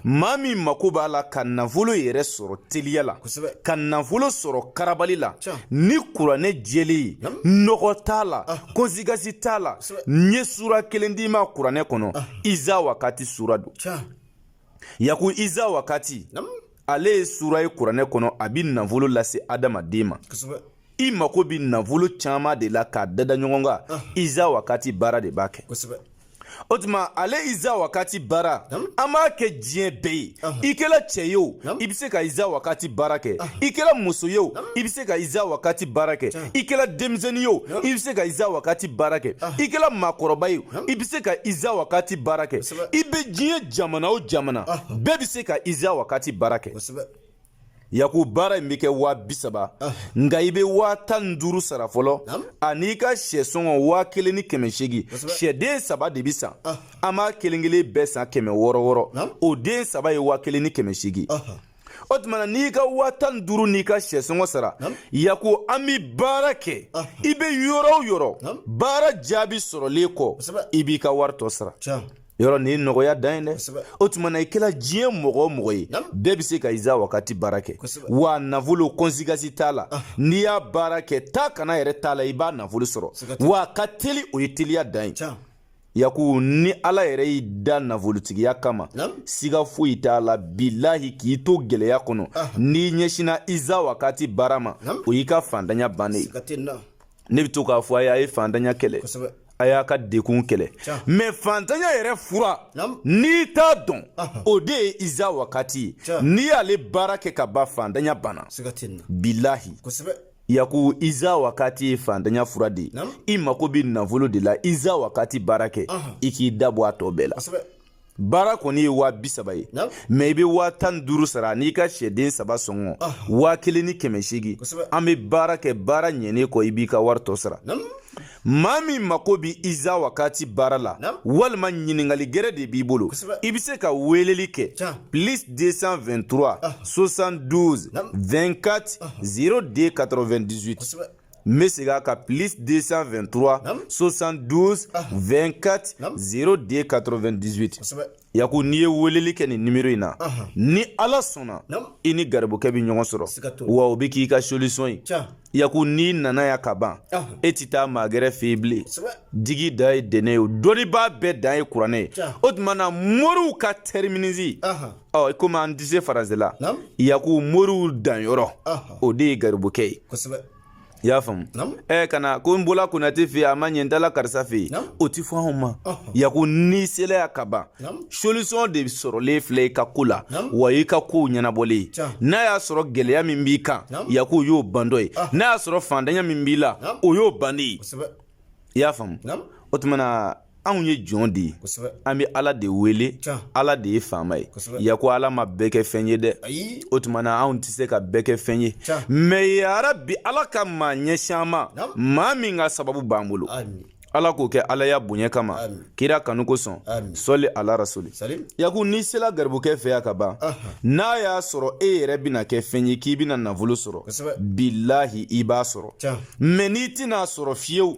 maa min mako b'a la ka nafolo yɛrɛ sɔrɔ teliya la ka nafolo sɔrɔ karabali la ni kuranɛ jɛlen ye nɔgɔ t'a la kɔnsigasi t'a la n ye sura kelen d'i ma kuranɛ kɔnɔ iza wakati sura don yaku iza wakati ale ye sura ye kuranɛ kɔnɔ a bi nafolo lase adamaden ma i mako bi nafolo caman de la k'a dada ɲɔgɔn kan iza wakati baara de b'a kɛ o tuma ale iza wakati baara an b'a kɛ diɲɛ bɛɛ ye i kɛra cɛ ye o i bɛ se ka iza wakati baara kɛ i kɛra muso ye o i bɛ se ka iza wakati baara kɛ i kɛra denmisɛnnin ye o i bɛ se ka iza wakati baara kɛ i kɛra maakɔrɔba ye o i bɛ se ka iza wakati baara kɛ i bɛ diɲɛ jamana o jamana bɛɛ bɛ se ka iza wakati baara kɛ yaku baara in bɛ kɛ waa bi saba ah. nka i bɛ waa tan ni duuru sara fɔlɔ an'i ka sɛ sɔngɔ waa kelen ni kɛmɛ seegin sɛden saba de bɛ san ah. an b'a kelen kelen bɛɛ san kɛmɛ wɔɔrɔ wɔɔrɔ o den saba ye waa kelen ni kɛmɛ seegin ah. o tuma na n'i ka waa tan ni duuru n'i ka sɛ sɔngɔ sara yaku an bɛ baara kɛ i bɛ yɔrɔ o yɔrɔ baara jaabi sɔrɔlen kɔ i b'i ka wari tɔ sara yɔrɔ nin ye nɔgɔya dan ye dɛ o tuma na i kɛra diɲɛ mɔgɔ o mɔgɔ ye bɛɛ bɛ se ka iza wakati baara kɛ wa nafolo kɔnsigasi t'a la ah. n'i y'a baara kɛ taa ka na yɛrɛ t'a la i b'a nafolo sɔrɔ w'a ka teli o ye teliya dan ye yaku ni ala yɛrɛ y'i da nafolotigiya kama siga foyi t'a la bilahi k'i to gɛlɛya kɔnɔ ah. n'i ɲɛsinna iza wakati baara ma o y'i ka fantanya bannen ye ne bɛ to k'a fɔ a ye a ye fantanya kɛlɛ a y'a ka degun kɛlɛ mɛ fantanya yɛrɛ fura n'i t'a dɔn o de ye iza wakati ye n'i y'ale baara kɛ ka ban fantanya banna bilahi yaku iza wakati ye fantanya fura de ye i mako bɛ nafolo de la iza wakati baara kɛ i k'i dabɔ a tɔ bɛɛ la baara kɔni ye waa bi saba ye mɛ i bɛ waa tan duuru sara n'i ka sɛden saba sɔngɔ waa kelen ni kɛmɛ seegin an bɛ baara kɛ baara ɲɛnen kɔ i b'i ka wari tɔ sara maa min mako bɛ iza wakati baara la walima ɲininkali gɛrɛ de b'i bolo i bɛ se ka weeleli kɛ plus 223 72 24 02 98 n bɛ segin a kan plus 223 72 24 02 98 yaku n'i ye weleli kɛ nin nimero in na ni ala sɔnna i ni garibukɛ bɛ ɲɔgɔn sɔrɔ wa o bɛ k'i ka solisɔn ye yaku n'i nana ya ka ban e tɛ taa maa gɛrɛ fɛ yen bilen digi dan ye dɛnɛ ye o dɔnnibaa bɛɛ dan ye kuranɛ ye o tuma na moriw ka tɛriminisi ɔ komi an tɛ se faransi la yaku moriw danyɔrɔ o de ye garibukɛ ye i y'a faamu ɛ ka na ko n bɔla konate fɛ yen a ma ɲɛ n taala karisa fɛ yen o tɛ fɔ anw ma yaku n'i sela ya ka ban solisiyɔn de sɔrɔlen filɛ i ka ko la wa i ka kow ɲɛnabɔlen n'a y'a sɔrɔ gɛlɛya min b'i kan yaku o y'o ban don ye n'a y'a sɔrɔ faantanya min b'i la o y'o bannen ye i y'a faamu o tuma na anw ye jɔn de ye an bɛ ala de wele ala de ye faama ye yaku ala ma bɛɛ kɛ fɛn ye dɛ o tuma na anw tɛ se ka bɛɛ kɛ fɛn ye mɛ yarabi ala ka maa ɲɛsin an ma maa min ka sababu b'an bolo ala k'o kɛ ala ya bonya kama kira kanu kosɔn sɔli ala rasuli yaku n'i sela garibukɛ fɛ ya ka ban n'a y'a sɔrɔ e yɛrɛ bɛna kɛ fɛn ye k'i bɛna nafolo sɔrɔ bilahi i b'a sɔrɔ mɛ n'i tɛn'a sɔrɔ fiyewu